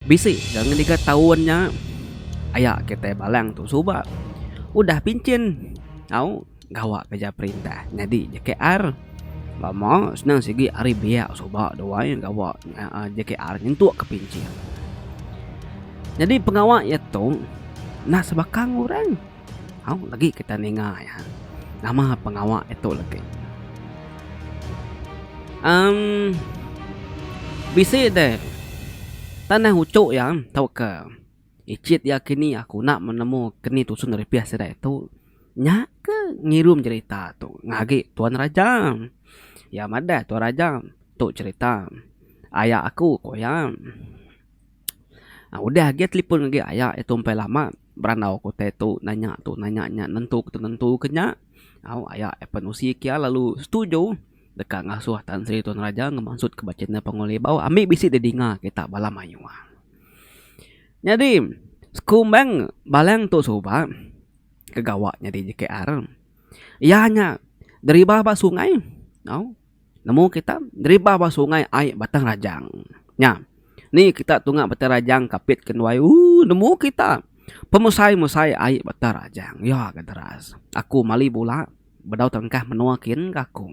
Bisi ga ngendiga taun nya aya kitai Balang tu suba udah pinchin au gawa kerja perintah nyadi JKR. Lama senang sigi ari biak suba duai gawa JKR nyentuk ke pinchin. Nyadi pengawa iya tu nah sebakang orang. Hau lagi kita ninga iya. Nama pengawa ditu lagi. Um bisi deh tanah ucu iya tauka icit iya kini aku enda menemu keni tusun ripih sida itu nya ke ngirum jerita tu ngah agi tuan raja. Iya madah tuan raja tu jerita aya aku ku iya. Nah udah agi telefon agi aya iya tu empai lama berandau ku utai tu nanya tu nanya nya nentu ke tu nentu ke nya au aya FNOC kia lalu setuju deka ngasuh Tan Sri Tun Raja ngemansut ke ba channel Pangulo Iban ambi bisi deh dinga kita bala mayuh. Nyadi sekumbang balang tu suba ke gawa nyadi JKR iya nya deriba ba sungai au. Nemu kita neriba ba sungai ai Batang Rajang. Nya. Ni kita tunga Batang Rajang kapit ke nuai. Ooh nemu kita pemusai-musai ai Batang Rajang. Ya ga deras. Aku mali bula bedau tengkah menua kin ga aku.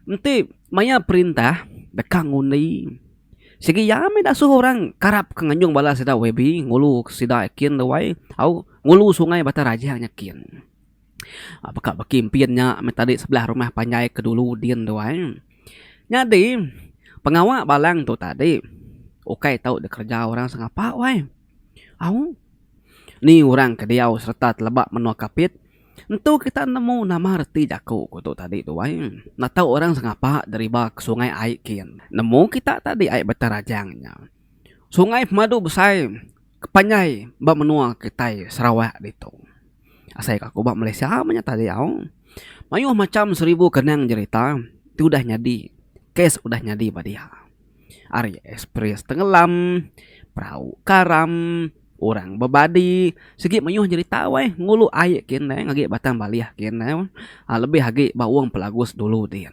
Enti maya perintah deka ngundi sigi iya mih da suh orang karap ke nganjung bala sida YB ngulu sida kin ruai au ngulu sungai Batang Rajang nya kin. Baka baki mpin nya meh tadi sebelah rumah panjai ke dulu din tu ai. Nyadi pengawa balang tu tadi ukai tau dikereja orang sengapa weh. Au ni orang ke diau sereta teleba menoa kapit entu kita nemu nama reti jaku ku tu tadi tu ai. Enda tau orang sengapa deriba ke sungai ai kin. Nemu kita tadi ai Bata Rajang nya. Sungai pemadu besai ke panjai ba menua kitai Sarawak ditu. Asai ka ku ba Malaysia meh nyata diau. Mayuh macham seribu kenang jerita ti udah nyadi, kes udah nyadi ba dia. Ari ekspres tengelam, perau karam, orang bebadi, sigi mayuh jerita weh ngulu ai ke indai ngagi batang balih ke indai weh. Lebih agi ba wong pelagus dulu din.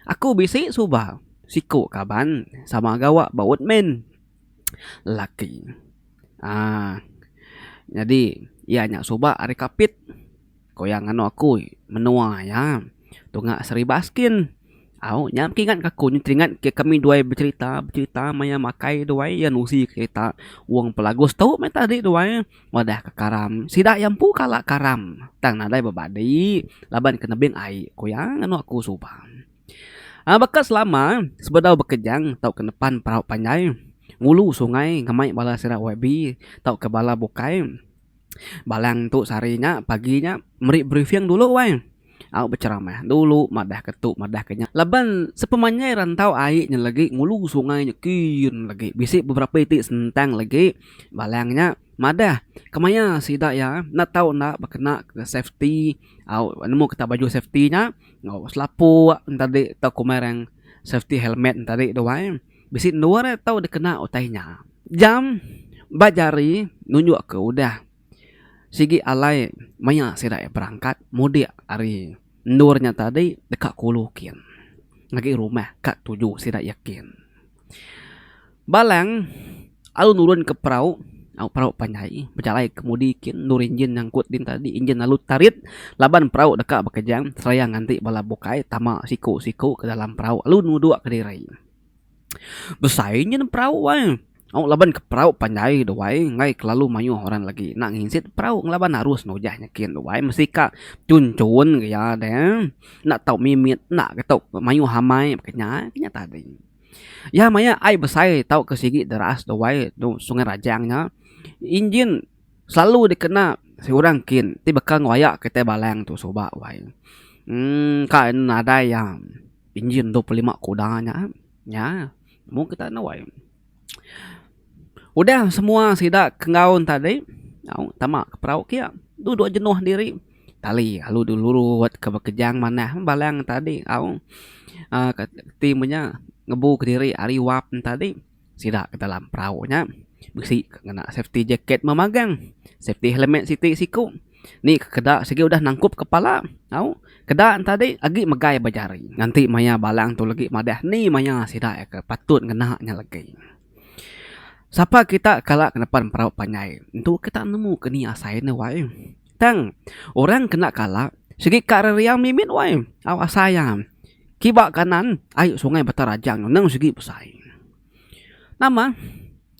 Aku bisi suba siku kaban sama gawa ba Woodman lelaki um nyadi iya nya suba ari Kapit ku iya nganu aku menua iya tunga Sri Baskin au nya mesti ingat ka aku teringat ke kami duai becerita becerita maya makai duai iya nusi kerita wong pelagus tu meh tadi duai. Madah ke karam. Sida iya empu kala karam tang nadai bebadi laban ke nebing ai, ku iya nganu aku suba. Baka selama, sebedau bekejang tauka nepan perau panjai, ngulu sungai ngemai bala sida YB tauka bala bukai, Balang tu sehari nya pagi nya meri briefing dulu weh. Au beceramah dulu madah ke tu madah ke nya laban sepemanjai rantau ai nya legi ngulu sungai nya kin legi bisi beberapa iti sentang legi balang nya madah kemaya sida iya enda tau enda bekena ke safety au nemu kita baju safety nya enggau selapok en tadi tau komai orang safety helmet en tadi tu ai bisi endur tau dikena utai nya jam ba jari nunjuk ke udah. Sigi alai maya sida iya berangkat mudik ari endur nya tadi deka kulu kin ngagai rumah ka tuju sida iya kin. Balang lalu nurun ke perau au perau panjai bejalai kemudi kin endur injin nyangkut din tadi injin lalu tarit laban perau deka bekejang seraya nganti bala bukai tama siku-siku ke dalam perau lalu nuduk kediri. Besai nyin perau ai. Au laban ke perau panjai tu ai enggai kelalu mayuh orang lagi enda nginsit perau ngelaban arus nujah nyikin tu ai mesti ka chun chun ke iya deh enda tau mimit enda ke tau mayuh amai ke nya nya tadi. Iya maya ai besai tau ke sigi deras tu ai tu Sungai Rajang nya engine selalu dikena seorang kin ti baka ngoyak kitai balang tu suba wai. Engka nadai iya. Injin dua puluh lima kuda nya nya mung kita nuai. Udah semua sida ke ngaun tadi au tama ke perau kia duduk jenuh diri tali lalu dulu lurut ke bekejang manah balang tadi au ti menya ngebu kediri ari wap tadi. sida ke dalam perau nya bisi ke ngena safety jacket meh magang safety helmet siti siku ni ke keda sigi udah nangkup kepala au keda ne tadi agi megai ba jari nganti maya balang tu legi madah ni maya sida ke patut ngena nya legi sapa kita kala ke nepan perau panjai tu kita nemu ke ni asai ne wai. Tang, orang kena kala sigi ka reriau mimit wai. Au asai iya. Kiba kanan ai sungai Bata Rajang tu nang sigi besai. Nama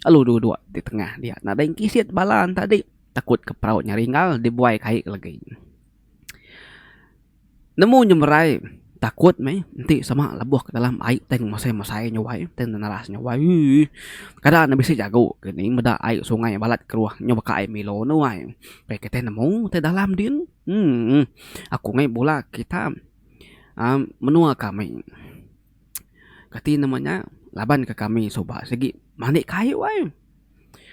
alu duduk di tengah dia nadai kisit bala tadi takut ke perau nya ringgal dibuai kai legi. Nemu nyemerai takut meh enti sama lebuh ke dalam ai tang masai-masai nyawai tang neras nyawai uii kada ne bisi jago ke ni meda ai sungai balat keruh nyau baka ai milo ne wai pia kitai nemu tai dalam din umm aku meh bula kita uhh menua kami kati nama nya laban ke kami suba sigi mani kayu ai.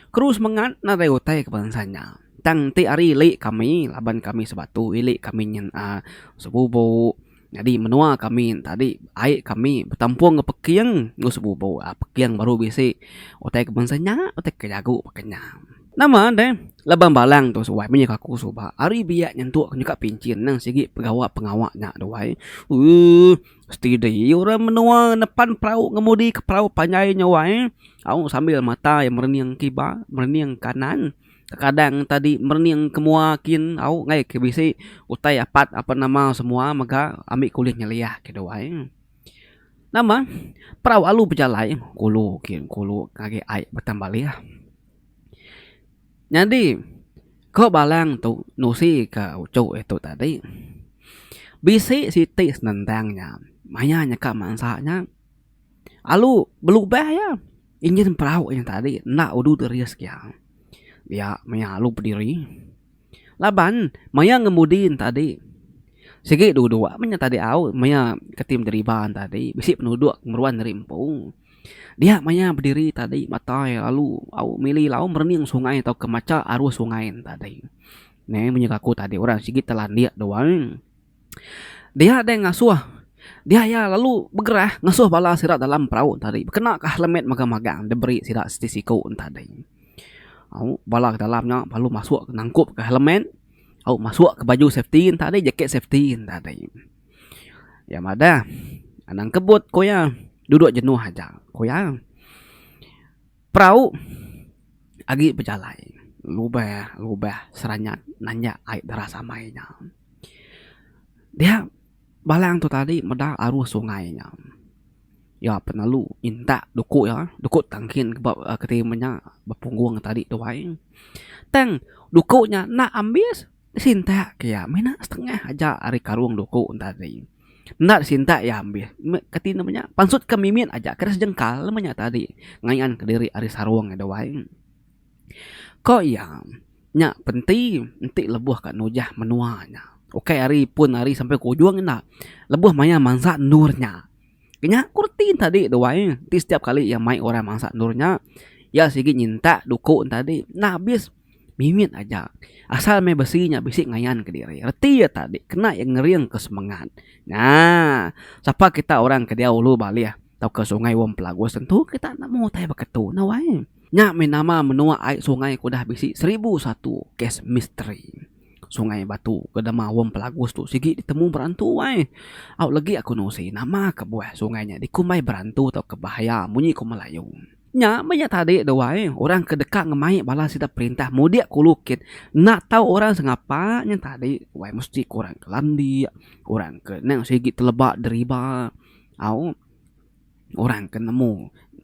Keru semengat nadai utai ke bansa nya. Tang enti ari ili kami laban kami sebatu ili kami nyin uhh sebubo nyadi menua kami tadi ai kami betampung enggau peking enggau sebubo uhh peking baru bisi utai ke bansa nya utai ke jago baka nya. Nama deh laban balang tu suwai meh nyuka aku suba ari biak nyentuk nyuka pinchin nang sigi pengawa pengawa nya duai uhh. Steady iya orang menua nepan perau ngemudi ke perau panjai nya wai au sambil mata iya merening kiba merening kanan kadang tadi merening ke mua kin au ngai ke bisi utai apat apan nama semua mega ami ke ulih nyeliah kitu ai nama perau alu bejalai kulu kin kulu agi ai betan baleh. Nyadi, ko Balang tu nusi ka uchu e tu tadi. Bisi siti senentang nya maya nyeka mansa nya alu belubah iya injin perau nya tadi enda udu teris ke iya. Iya maya alu bediri laban maya ngemudi ne tadi sigi duduk maya tadi au maya keti bederiba ne tadi bisi penuduk ngeruan ari empu. Dia maya bediri tadi matai lalu au mili lau merening sungai tauka macha arus sungai nya tadi. Neh munyi aku tadi orang sigi telandik tu ai. Dia deh ngasuh dia iya lalu begerah ngasuh bala sida dalam perau tadi bekena ka helmet mega magang diberi sida siti siku nya tadi. Au bala ke dalam nya lalu masuk nangkup ka helmet au masuk ka baju safety nya tadi jaket safety nya tadi. Iya madah, Anang Kebut, ku iya, duduk jenuh aja, ku iya. Perau agi bejalai lubah lubah Seranyat nanjak Ai Deras Amai nya. Dia balang tu tadi meda arus sungai nya. Iya penelu minta duku iya, duku tangkin ke ba keti menya bepunggung tadi tuai. Tang duku nya enda ambis. Disintak ke iya mina setengah aja ari karung duku tadi. Enda disintak iya ambis. Kati nya menya? Pansut ke mimit aja kada sejengkal meh nya tadi ngayan kediri ari sarung iya duai. Ko iya, nya penti enti lebuh ka nujah menua nya. Ukai ari pun ari sampai ke ujung enda. Lebuh maya mansa endur nya. Ke nya ku reti nya tadi duai. Enti setiap kali iya mai orang mansa endur nya, iya sigi nyintak duku nya tadi. Enda abis. Mimit aja. Asal meh besi nya bisi ngayan ke diri. Reti iya tadi kena iya ngering ke semengat. Nya, sapa kita orang ke diau ulu baleh tauka Sungai Wong Pelagus tentu kita enda meh utai baka tu. Enda wai. Nya meh nama menua ai sungai ke udah bisi seribu satu kes misteri. Sungai Batu ke nama Wong Pelagus tu sigi ditemu berantu ai. Au legi aku nusi nama kebuah sungai nya dikumbai berantu tauka bahaya munyi ku Melayu. Nya meh iya tadi dua ai orang ke deka ngemai bala sida perintah mudik ke ulu kit enda tau orang sengapa nya tadi wai mesti ke orang ke landik orang ke nang sigi teleba deriba au orang ke nemu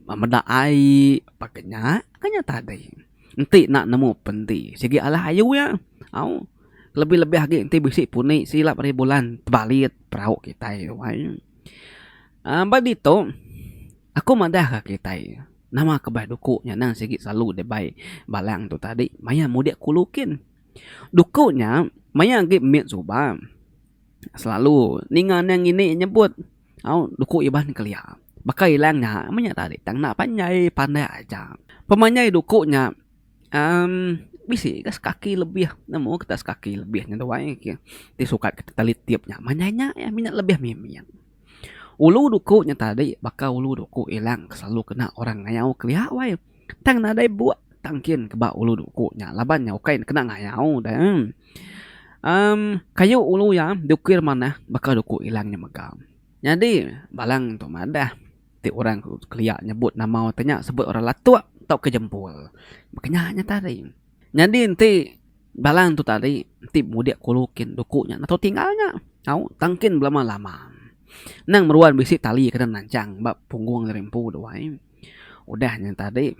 meda ai pa ke nya ke nya tadi enti enda nemu pen enti sigi alah ayu iya au lebih lebih agi enti bisi puni silap ari bulan tebalit perau kitai wai. Ba ditu, aku madahka kitai, nama kebai duku nya endang sigi selalu dibai Balang tu tadi maya mudik kulu kin. Duku nya maya agi mit suba selalu ninga nya ngini nyebut au duku Iban Kelia. Baka ila nya meh nya tadi tang enda panjai, pandak aja. Pemanjai duku nya uhh bisi ka sekaki lebih nemu kita sekaki lebih nya tu ai ti sukat kita telitip nya. Manjai nya iya mih nya lebih mimit. Ulu duku nya tadi baka ulu duku ilang ke selalu kena orang ngayau kelia wai. Tang nadai buk tang kin ke ba ulu duku nya laban nya ukai ne kena ngayau deh. Em kayu ulu iya diukir manah baka duku ilang nya mega. Nyadi balang tu madah ti orang kelia nyebut nama te nya sebut orang latuk tauka jempol. Baka nya nya tadi. Nyadi enti. Bala entu tadi enti mudik kulu kin duku nya natu tinggal nya au tang kin belama lama nang meruan bisi tali kena nanchang ba punggung ari empu tu ai udah nya tadi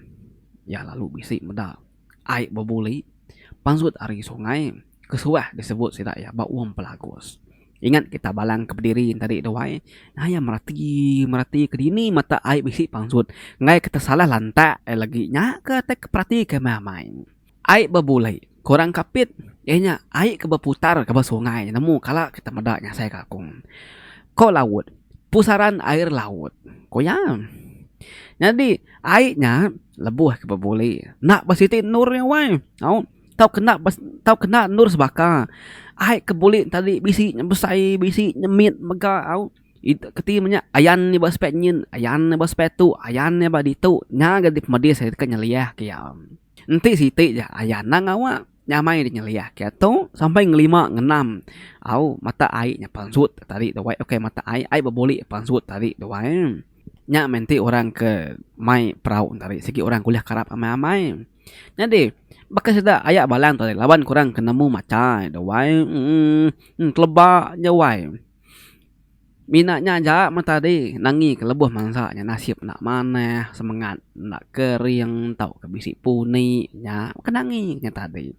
iya lalu bisi meda ai bebuli pansut ari sungai kesuah disebut sida iya ba Wong Pelagus ingat kita balang ke bediri tadi tu ai ngaya merati merati ke dini mata ai bisi pansut enggai ke tesalah lantak ai lagi nya ke tai ke perati ke meh amai. Ai bebulai. Ku orang Kapit, iya nya ai ke beputar ke ba sungai nemu kala kita meda nyasai kangkung. Ko laut, pusaran air laut, ku iya. Nyadi ai nya lebuh ke bebuli enda ba siti endur nya wai au tau ke enda tau ke enda endur sebaka. Ai ke buli nya tadi bisi nya besai bisi nya mit mega au keti menya ayan nya ba sepak nyin ayan nya ba sepak tu ayan nya ba ditu nya ga di pemedis ai ke nyeliah ke iya. Enti siti ja aya anang awak nyamai dinyeliah ke tu sampai ngelima ngenam au mata ai nya pansut tadi tu wai okay mata ai ai bebulik pansut tadi tu wai nya meh enti orang ke mai perau nya tadi sigi orang ke ulih karap amai amai nyadi baka sida aya bala laban ke orang ke nemu macha tu wai uhh teleba nya wai. Mina nya aja meh tadi nangi ke lebuh mansa nya nasip enda manah, semengat enda kering tauka bisi puni nya ke nangi nya tadi.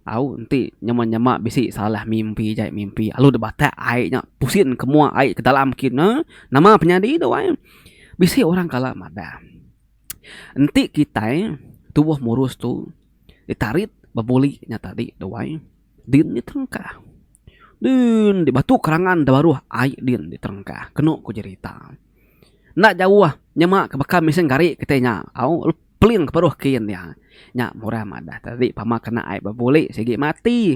Au enti nyema nyema bisi salah mimpi jai mimpi alu dep batak ai nya pusing ke mua ai ke dalam kin ne nama penyadi tu ai. Bisi orang kala madah enti kitai tubuh murus tu ditarit bebuli nya tadi tu ai. Din diterengka. Din dibatu kerangan da baruh ai din diterengka kenu ku jerita. Enda jauh nyema ke baka mesin gari kitai nya au peling ke baruh kin iya. Nya murah madah tadi pama kena ai bebuli sigi mati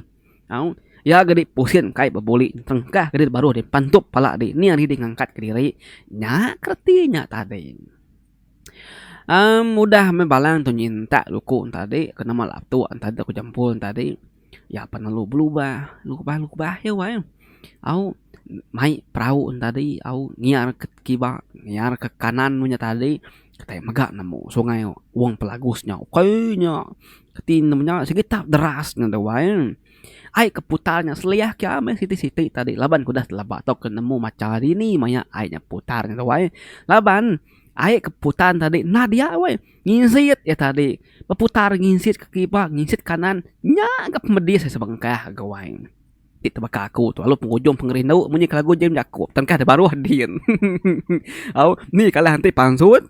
au iya ga di pusin kai bebuli diterengka ke diri baruh di pantup pala dini ari di ngangkat ke diri nya ke reti nya tadi. Aaa mudah meh bala ntu nyin tak luku tadi ke nama la'a tuk nta dek ku jempol tadi ya pa lalu belubah lubah lubah ya wai au mai perau tadi au nyiar ke kiba nyiar ke kanan meh nya tadi kitai mega nemu sungai wong pelagus nya ukai nya keti nemu nya sigi tap deras nya tu wai. Ai ke putar nya seliah kia meh siti-siti tadi laban ku dah teleba tau ke nemu macha dini maya ai nya putar nya tu ai. Laban ai ke putar nya tadi nah dia weh ngisit iya tadi beputar ngisit ke kipak ngisit ke kanan nya ga pemedis sebengkah ga wai ti tebeka aku tu lalu pengujung pengerindu munyi ke lagu Jim Jako tengkah da baruh din au ni kalah enti pansut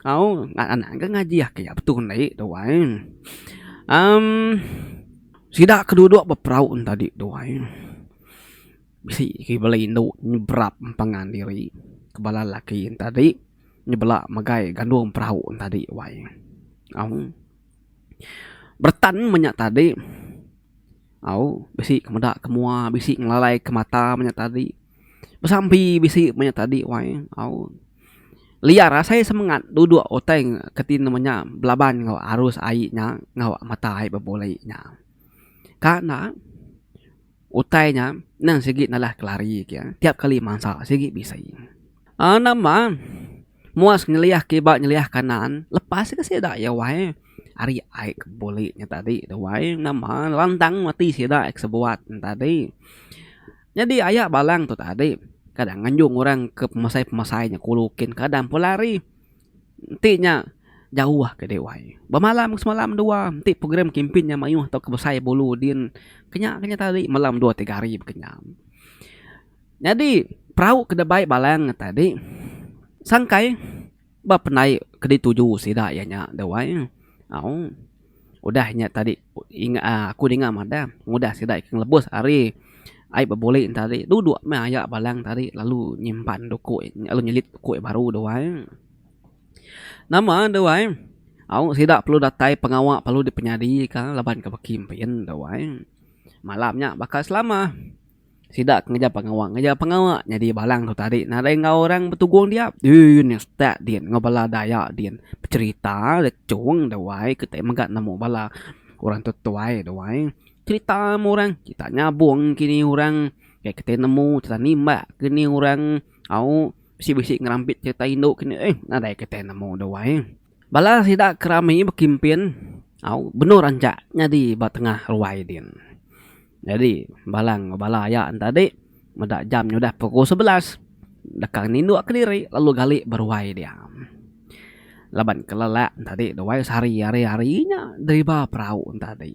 au anak ke ngaji aki betu ndik tu ai. Amm. Sida ke duduk beperau entadi tuai bisi ke bela indu nyeberap empangan diri ke bala lelaki entadi nyebela megai gandung perau entadi wai au beretan menya tadi au bisi ke meda ke mua bisi ngelalai ke mata menya tadi. Besampi bisi manya tadi wai au liar asai semengat duduk utai keti nemu nya belaban enggau arus ai nya enggau mata ai bebuli nya. Ka enda utai nya nang sigi nalah kelari ke tiap kali mansa sigi bisi. Aaa namba muas nyeliah kiba nyeliah kanan lepas ke sida iya wai ari ai ke buli nya tadi tu wai namba lantang mati sida ai ke sebuat nya tadi. Nyadi aya balang tu tadi kadang nganjung orang ke pemasai-pemasai nya kulu kin kadang pun lari enti nya jauh ke dewai. Bemalam semalam dua enti program kimpin nya mayuh tauka besai bulu din kenya ke nya tadi malam dua tiga hari ba kenyam. Nyadi perau ke deba balang tadi sangkai. Ba penai ke dituju sida iya nya deh wai au udah nya tadi aku ninga madah ngudah sida ke ngelebus ari ai bebulik tadi duduk meh aya balang tadi lalu nyimpan doku lalu nyelit doku iya baru deh wai nama deh wai au sida perlu datai pengawa perlu dipenyadi ka laban ke baki mpiyen deh wai malam nya baka selama. Sida ke ngeja pengawa ngeja pengawa nyadi balang tu tadi nadai enggau orang betugung dia din nya stat din enggau bala dayak din becherita da chong da wai kitai mega nemu bala orang tetuai da wai cherita meh orang cherita nyabong kini orang kai kitai nemu cherita nimbak kini orang au bisi bisi ngerampit cherita indu kini eh nadai kitai nemu da wai. Bala sida ke rami bekimpin au benor anjak nyadi ba tengah ruai din. Nyadi bala enggau bala aya enti tadi meda jam nyudah pukul sebelas deka ninduk ke diri lalu gali ba ruai dia. Laban ke lelak enti tadi duai sehari ari ari nya deriba perau enti tadi.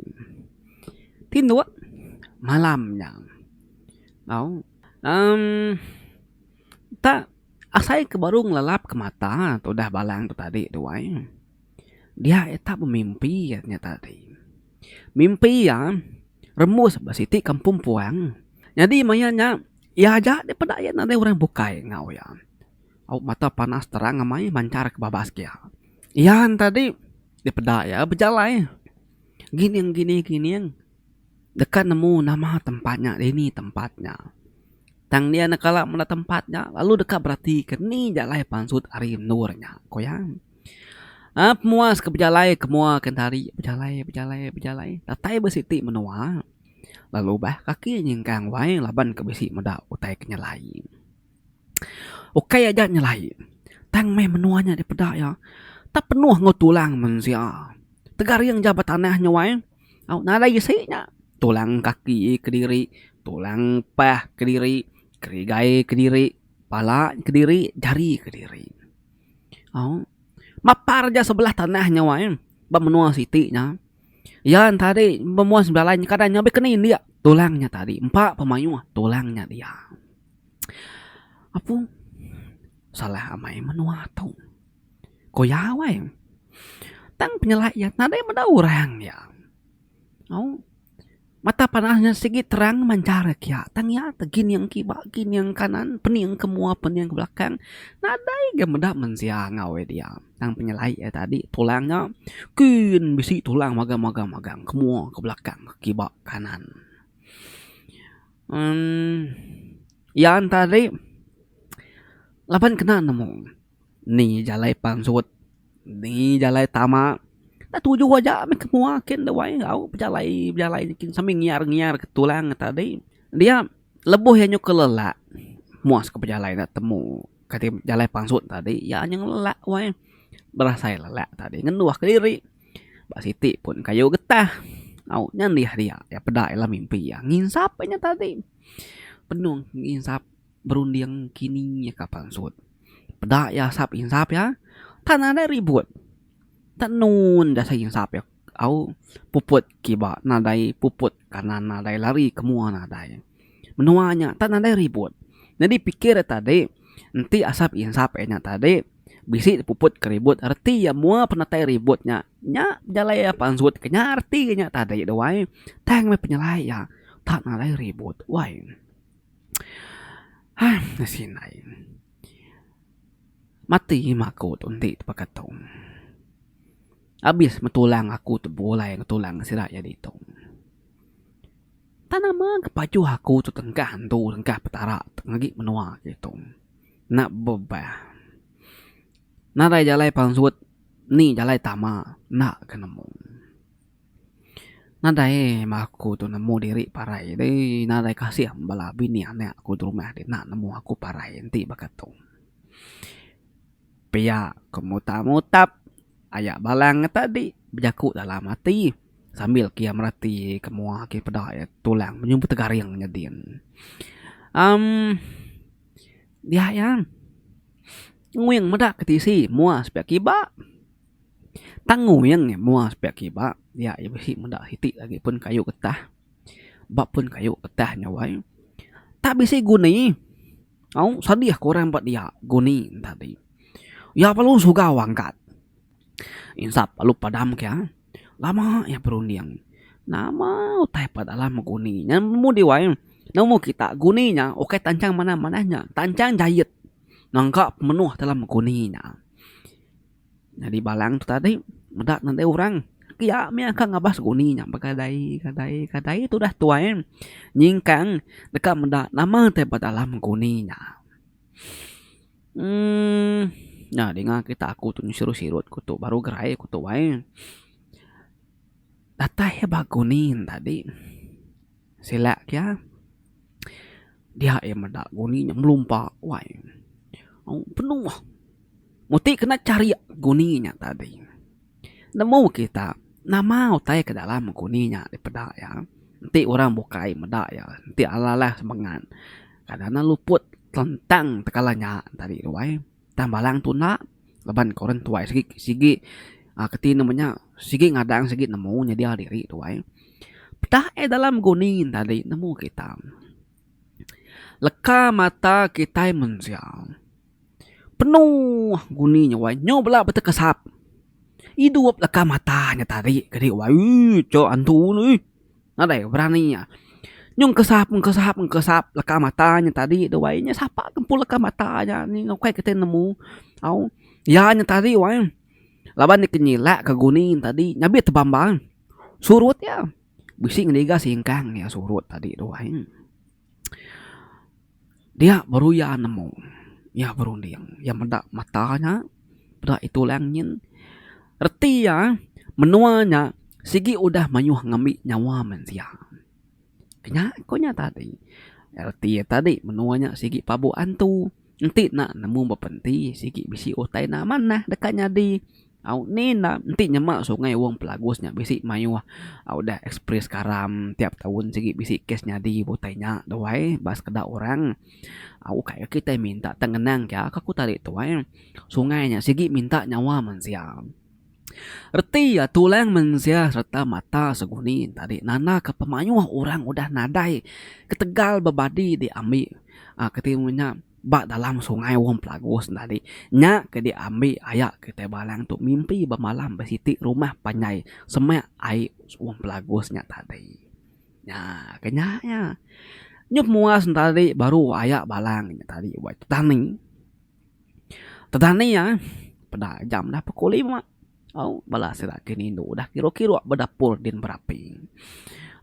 Tinduk malam nya au emm. Enta asai ke baru ngelalap ke mata tu udah balang tu tadi tu ai. Dia ita bemimpi nya tadi. Mimpi iya rembus ba siti kampung puang. Nyadi maya nya iya aja deh peda iya nadai orang bukai enggau iya. Au mata panas terang amai manchar ke babas ke iya. Iya nya tadi dipeda iya bejalai ngining ngining ngining. Deka nemu nama tempat nya dini tempat nya. Tang dia enda kala meda tempat nya lalu deka beratika ni ja alai pansut ari endur nya ku iya. Aaa pemuas ke bejalai ke mua ke entari bejalai bejalai bejalai datai ba siti menua lalu bah kaki nyingkang wai laban ke bisi meda utai ke nyelai. Ukai aja nyelai tang meh menua nya dipeda iya tak penuh enggau tulang mensia. Tegaring ja ba tanah nya wai au nadai isi nya tulang kaki kediri, tulang pah kediri, kerigai kediri, pala kediri, jari kediri. Au mapar ja sebelah tanah nya wai ba menua siti nya iya enta ade bemuan sebelah lain kada nya be kena indik tulang nya tadi empa pemaioh tulang nya dia. Apung, salah amai menua tu. Ko iya wai. Tang penyelai iya nadai meda orang iya. Au, mata panah iya sigi terang manchar kiya. Tang iya ti gining kiba gining kanan, pening ke mua pening ke belakang. Nadai ga meda mensia enggau iya dia. Tang penyelai iya tadi tulang iya kin bisi tulang magang magang magang ke mua ke belakang ke kiba ke kanan. Iya enta ri laban kena nemu ni jalai pansut ni jalai tama da tuju aja mih ke mua kin da wai au bejalai bejalai nyi kin sambil ngiar ngiar ke tulang enta di dia lebuh iya nyuka lelak mua sku bejalai da temu kadi jalai pansut tadi iya nyeng lelak wai berasai lelak tadi ngenduh kediri. Ba siti pun kayu getah au nya liah dia iya peda iya lah mimpi iya nginsap inya tadi penuh nginsap berunding kini ka pansut peda iya asap insap iya tan ada ribut tenun da asai insap iya au puput kiba nadai puput kanan nadai lari ke mua nadai. Menua nya tak nadai ribut. Nyadi pikir iya tadi, enti asap insap iya nya tadi bisi dipuput ke ribut reti iya mua penatai ribut nya, nya pejalai iya pansut ke nya reti iya nya tadi tu ai. Tang meh penyelai iya tak nadai ribut wai. Hai bisi nai mati ima aku tu enti baka tu. Abis meh tulang aku tu bulai ngetulang sida iya ditu. Tang nama ke pajuh aku tu tengkah entu tengkah Petara tang agi menua ke tu enda bebah. Nadai jalai pansut ni jalai tama enda ke nemu. Nadai meh aku tu nemu diri parai deh nadai kasih bala bini anak ku derumah deh enda nemu aku parai enti baka tu. Pia ku mutap mutap aya bala ngetadi bejaku dalam ati. Sambil ke iya merati ke mua agi peda iya tulang menyun betegaring nyadin. Am dia iya nguing meda ke tisi mua sepiak kiba. Tang nguing iya mua sepiak kiba dia iya bisi meda siti lagi pun kayu getah ba pun kayu getah nya wai tak bisi guni au sadih ke orang ba dia guni enti tadi. Iya perlu suga wang angkat insap lalu padam ke iya. Lama iya berunding. Nama utai peda alam beguni nya nemu diwai nemu kita guni nya ukai tanchang manah manah nya tanchang jayet nangka pemenuh dalam beguni nya. Nyadi balang tu tadi meda nadai orang pia mih akan ngabas guni nya begadai gadai gadai tu dah tuai nyingkang deka meda nama utai peda alam beguni nya. Umm nya dinga kita aku tu siru sirut ku tu baru gerai ku tu ai. Datai iya ba kuning tadi silak iya dia iya meda kuning nya melumpa wai penuh mesti kena cari kuning nya tadi. Nemu kita nama utai ke dalam aku ni nya dipeda iya enti orang bukai meda iya enti alah-alah semengat kada nya luput telentang tekala nya tadi tu ai tang bala tuna laban ke orang tuai sigi sigi um keti nama nya sigi ngadang sigi nemu nyadi diri tuai peda iya dalam guni tadi nemu kita. Leka mata kitai mensia penuh guni nya wai nyau bala betekesap idup leka mata nya tadi kadi wai ui cho antu ne ui nadai berani iya nyun kesap kesap kesap leka mata nya tadi tu wai nya sapa ke empu leka mata nya ni ukai kitai nemu au iya nya tadi wai laban iya ke nyilak ke guni tadi nya bih tebambang surut iya. Bisi ngendiga singkang iya surut tadi tu ai. Dia baru iya nemu. Iya berunding. Iya meda mata nya. Peda itu lang nyin. Reti iya, menua nya sigi udah mayuh ngambi nyawa mensia. Nya, ku nya tadi. Reti iya tadi menua nya sigi pabu antu. Enti enda nemu bapa enti sigi bisi utai enda amat nah deka nyadi au ni enda enti nyema sungai wong pelagus nya bisi mayuh au udah experience karam tiap taun sigi bisi kes nyadi utai nya tuai ba sekeda orang au kai kitai minta tang ngenang ka aku tadi tuai sungai nya sigi minta nyawa mensia. Reti iya tulang mensia sereta mata seguni tadi nandaka pemayuh orang udah nadai ketegal bebadi diambi ke ti ibuh nya ba dalam sungai Wong Pelagos nya tadi. Nya ke diambi aya kitai balang tu mimpi bemalam besiti rumah panjai semak ai Wong Pelagos nya tadi. Nya ke nya nya. Nyuh muas nya tadi baru aya balang nya tadi ba tang ni. Petani iya peda jam dah pukul lima au bala sida ke nindu dah kiru-kiru ba dapur din berapi.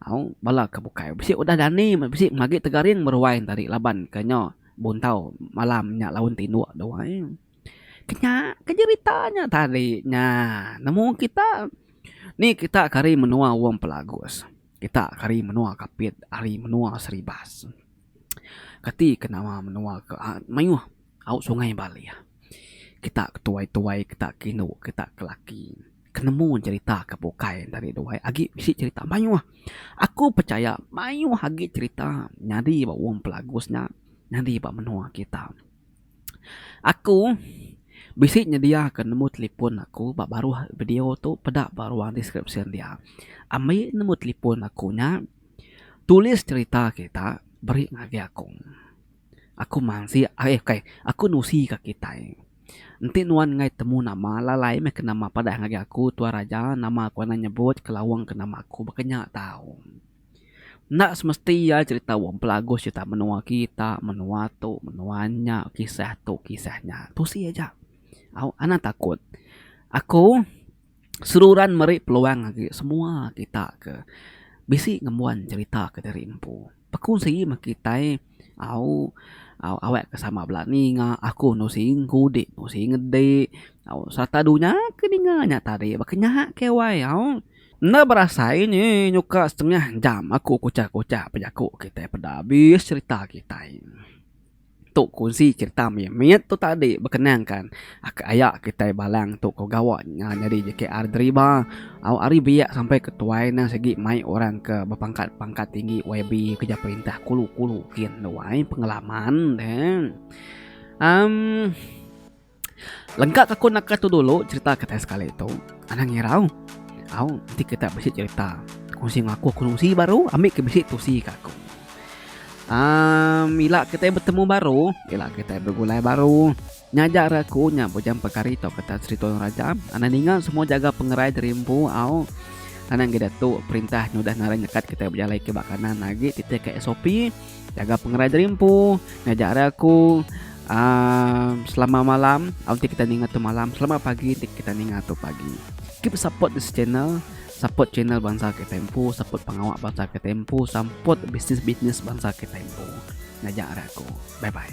Au bala ke bukai bisi udah dani bisi meh agi tegaring beruai enta ari laban ke nyo buntau malam nya laun tinduk tu ai. Ke nya ke jerita nya tadi nya nemu kita ni kita ke ari menua Wong Pelagus kita ke ari menua Kapit ari menua Seribas. Kati ke nama menua ke mayuh au sungai Bali. Kita ke tuai-tuai, kita ke indu, kita ke laki ke nemu cerita ke bukai enda ari duai agi bisi cerita mayuh. Aku pechaya mayuh agi cerita nyadi ba wong Pelagos nya nyadi ba menua kita. Aku bisi nyedia ke number telefon aku ba baruh video tu peda baruh description dia. Ambi number telefon aku nya. Tulis cerita kita beri ngagai aku. Aku mansik ai ukai aku nusi ka kitai. Enti nuan enggai temu nama lalai meh ke nama padah ngagai aku tuan raja nama ku anang nyebut ke lawang ke nama aku baka nya tau. Enda semesti iya cerita wong pelagus cerita menua kita menua tu menua nya kisah tu kisah nya. Tusi aja. Au anang takut aku seruran meri peluang agi semua kita ke bisi ngembuan cherita ke diri empu. Aku sigi meh kitai au awak ke sama bala ninga aku enu sigi ngudi enu sigi ngedi au sereta dunya ke ninga nya tadi baka nya ke wai au enda berasai nyi nyuka setengah jam aku kuchah kuchah bejaku kitai peda abis cherita kitai. Tu kunsi cerita mih. Mit tu tadi bekenangka aka aya kitai Balang tu ko gawa nya nyadi JKR Deriba. Au ari biak sampai ke tuai ne sigi mai orang ke bepangkat-pangkat tinggi YB kereja perintah kulu-kulu kin tu ai pengalaman ne. Amm. Lengka ka ku naka tu dulu cerita kitai sekali tu. Anang irau. Au, enti kita bisi cerita kunsi enggau aku kunsi baru ambi ke bisi tusi ka aku. Um, ila kitai betemu baru, ila kitai begulai baru, nya aja ra aku nya bujang pekari tau kita Sri Toyong Raja. Anang ninga semua jaga pengerai diri empu, au. Anang gidak tu perintah nyudah ngaran nyekat kitai bejalai ke ba kanan agi titih ka SOP. Jaga pengerai diri empu, ngajar ari aku. Uh, selamat malam, nanti kita ningat tu malam. Selamat pagi, nanti kita ningat tu pagi. Keep support this channel support channel bangsa ke tempo support pengawa bangsa ke tempo support bisnis bisnis bangsa ke tempo ngajak aku bye bye